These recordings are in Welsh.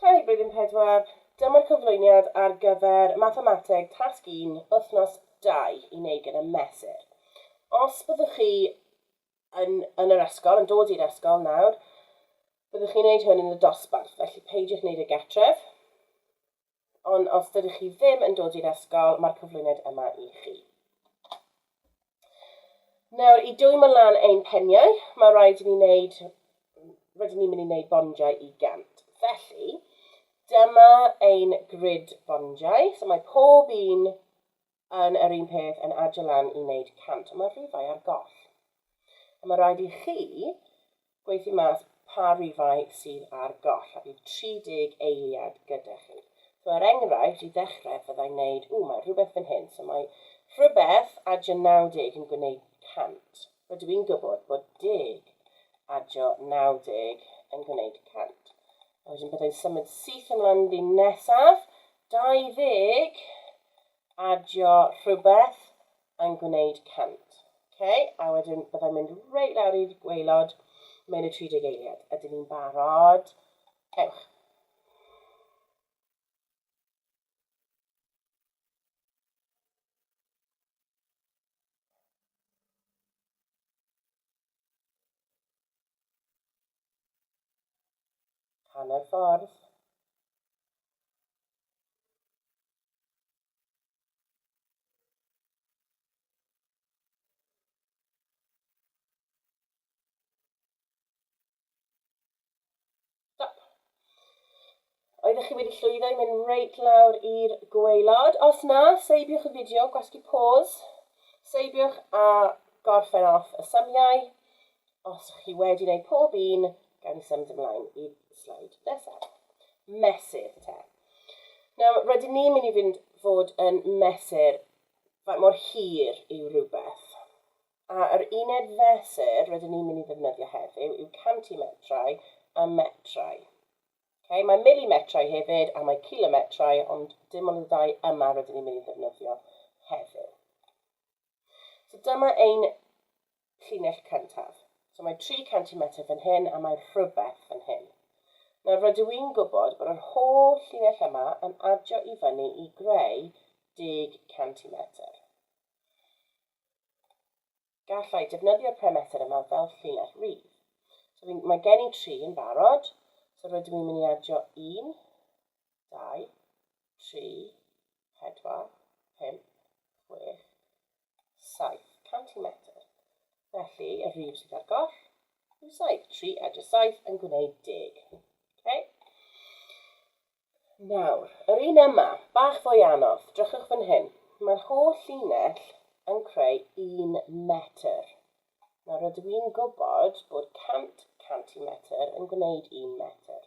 Hei, Blwyddyn Pedwar! Dyma'r cyflwyniad ar gyfer Mathemateg Tasg Un, Wythnos Dau, i wneud gyda Mesur. Os byddwch chi yn yn yr ysgol, yn dod i'r ysgol nawr, byddwch chi'n wneud hwn yn y dosbarth, felly peidiwch wneud e gartref. Ond os dydych chi ddim yn dod i'r ysgol, mae'r cyflwyniad yma i chi. Nawr, i dwymo lan ein peniau, mae rhaid i ni wneud... rydyn ni'n mynd i wneud bondiau i gant. Felly, dyma ein grid bondiau. So mae pob un yn yr un peth yn adio lan i wneud cant. Mae'r rhifau ar goll. A mae rhaid i chi gweithio mas pa rifau sydd ar goll a bydd 30 eiliad gyda chi. So er enghraifft, i ddechrau fydda i'n neud, ww mae rhywbeth fan hyn, so mae rhywbeth adio 90 yn gwneud 100. Rydw i'n gwybod bod deg adio 90 yn gwneud 100. A wedyn bydda i'n symud syth ymlaen yn ddyn nesaf, 20 adio rhywbeth, yn gwneud 100. Ok, a wedyn byddai'n mynd reit lawr i'r gwaelod mewn y 30 eiliad. Ydyn ni'n barod? Ewch. Hanner ffordd. Oeddech chi wedi llwyddo i mynd reit lawr i'r gweilod? Os na, seibiwch y fideo, gwasgu pause, seibiwch a gorffen off y symiau. os chi wedi gwneud pob un, gawn ni symud ymlaen i sleid nesaf. Mesur te. Nawr, rydyn ni'n mynd i fynd fod yn mesur faint mor hir yw rhywbeth. A yr uned fesur rydyn ni'n mynd i ddefnyddio heddiw yw cantimetrau a metrau. Okay, mae milimetrau hefyd a mae kilometrau, ond dim ond y ddau yma rydyn ni'n mynd i ddefnyddio heddiw. So dyma ein llinell cyntaf. So mae 300 metr fan hyn a mae rhywbeth fan hyn. Nawr rydw i'n gwybod bod yr holl llinell yma yn adio i fyny i greu 10 centimetr. Gallai defnyddio'r perimetr yma fel llinell rif. So mae gen i 3 yn barod, so rydw i'n mynd i adio 1, 2, 3, pedwar, pump, chwech, saith, cant i metr. Felly, y rif sydd ar goll yw saith. Tri a dros saith yn gwneud deg. Okay? Nawr, yr un yma, bach fwy anodd, drychwch fan hyn. Mae'r holl llinell yn creu un metr. Nawr, rydw i'n gwybod bod 100 centimetr yn gwneud un metr.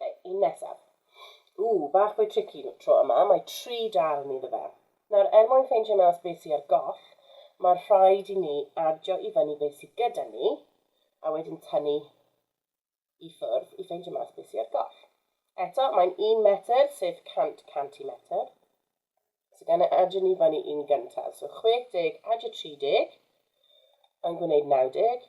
Ok, un nesaf. Ww, bach fwy tricky tro yma, mae tri darn iddo fe. Nawr, er mwyn ffeindio mas beth sy ar goll, mae'r rhaid i ni adio i fyny beth sydd gyda ni, a wedyn tynnu i ffwrdd i ffeindio mas beth sydd ar goll. Eto, mae'n un metr, sef 100 centimetr. So gan e adio ni fyny un gyntaf. So 60 adio 30 yn gwneud 90.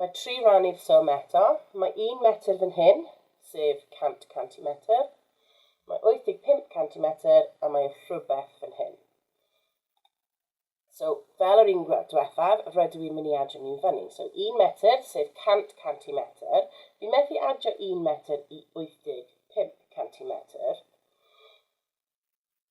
Mae tri ran i'r swm eto. Mae un metr fan hyn, sef 100 centimetr. Mae 85 centimetr a mae rhywbeth fan hyn. So, fel yr un diwethaf, rydw i'n mynd i adio nhw i fyny. So, un metr, sef 100 centimetr. Fi'n methu adio un metr i 85 centimetr.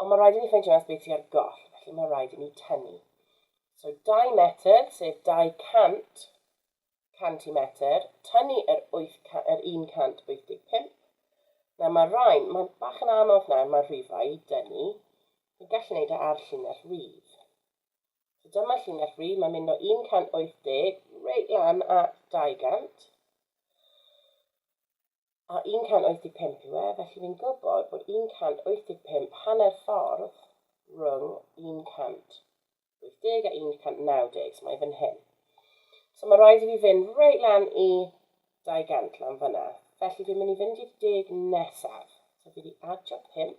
Ond mae rhaid i ni ffeindio beth sydd ar goll, felly mae rhaid i ni tynnu. So 2 metr, sef 200 centimetr, tynnu yr, 8, yr 185. Na, mae rhain, mae'n bach yn anodd nawr, mae'r rhifau i dynnu. Ni'n gallu gwneud e ar llinell rydd. So dyma llinell rydd, mae'n mynd o 180 reit lan at 200. a 185 yw e, felly fi'n gwybod bod 185 hanner ffordd rhwng 180 a 190, so mae fan hyn. So mae rhaid i fi fynd reit lan i 200 lan fyna. Felly fi'n mynd i fynd i'r deg nesaf. So fi wedi adio 5,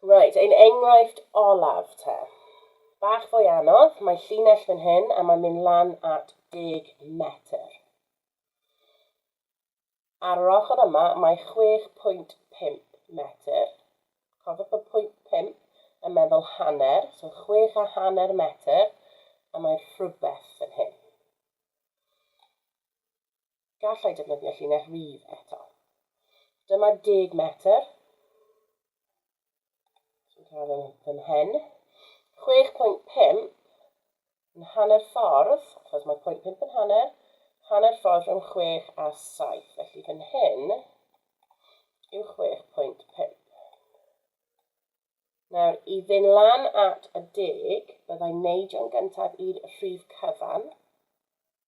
Reit, ein enghraifft olaf te. Bach fwy anodd, mae llinell fan hyn a mae'n mynd lan at 10 metr. Ar yr ochr yma mae 6.5 metr. Cofiwch bod pwynt 5 yn meddwl hanner, so 6 a hanner metr, a mae rhywbeth fan hyn. gallai defnyddio llinell rif eto. Dyma deg metr sy'n cael yn fy mhen. 6.5 yn hanner ffordd, achos mae pwynt 5 yn hanner, hanner ffordd rhwng 6 a 7. Felly fan hyn yw 6.5. Nawr, i fynd lan at y deg, byddai'n neidio yn gyntaf i'r rhif cyfan,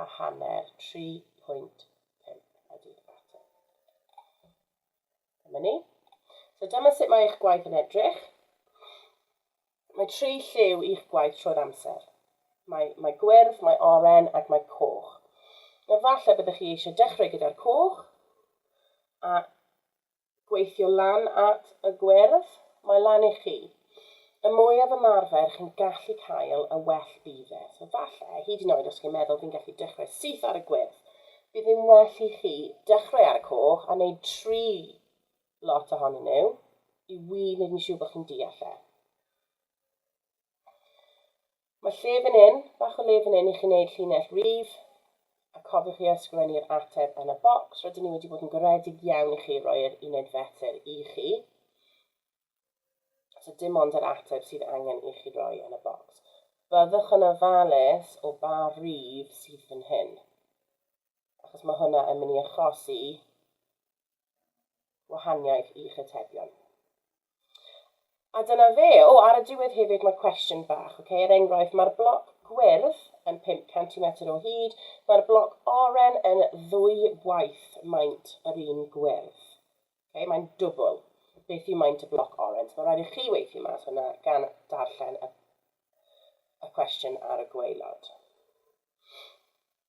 a hanner, 3.5 ydy'r ateb. Dyma ni. So dyma sut mae eich gwaith yn edrych. Mae tri lliw i'ch gwaith trwy'r amser. Mae, mae gwyrdd, mae oren ac mae coch. Efallai byddwch chi eisiau dechrau gyda'r coch a gweithio lan at y gwyrdd, mae lan i chi. Y mwyaf ymarfer chi'n gallu cael, y well bydd e. So falle, hyd yn oed os chi'n meddwl fi'n gallu dechrau syth ar y gwyrdd, bydd yn well i chi dechrau ar y coch a wneud tri lot ohonyn nhw i wir wneud yn siŵr bod chi'n deall e. Mae lle fan hyn, bach o le fan hyn i chi wneud llinell rif, a cofiwch i ysgrifennu'r ateb yn y bocs. Rydyn ni wedi bod yn garedig iawn i chi roi yr uned fetel i chi. So dim ond yr ateb sydd angen i chi roi yn y bocs. Byddwch yn ofalus o ba rif sydd fan hyn. Achos mae hwnna yn mynd i achosi wahaniaeth i'ch atebion. A dyna fe. O, ar y diwedd hefyd mae'r cwestiwn bach, okay? er enghraifft, mae'r bloc gwyrdd yn 5 cm o hyd, mae'r bloc oren yn ddwy waith maint yr un gwyrdd. Okay? Mae'n dwbl. Beth yw maint y bloc oren? So, mae rhaid i chi weithio mas hwnna gan darllen y, y cwestiwn ar y gweilod.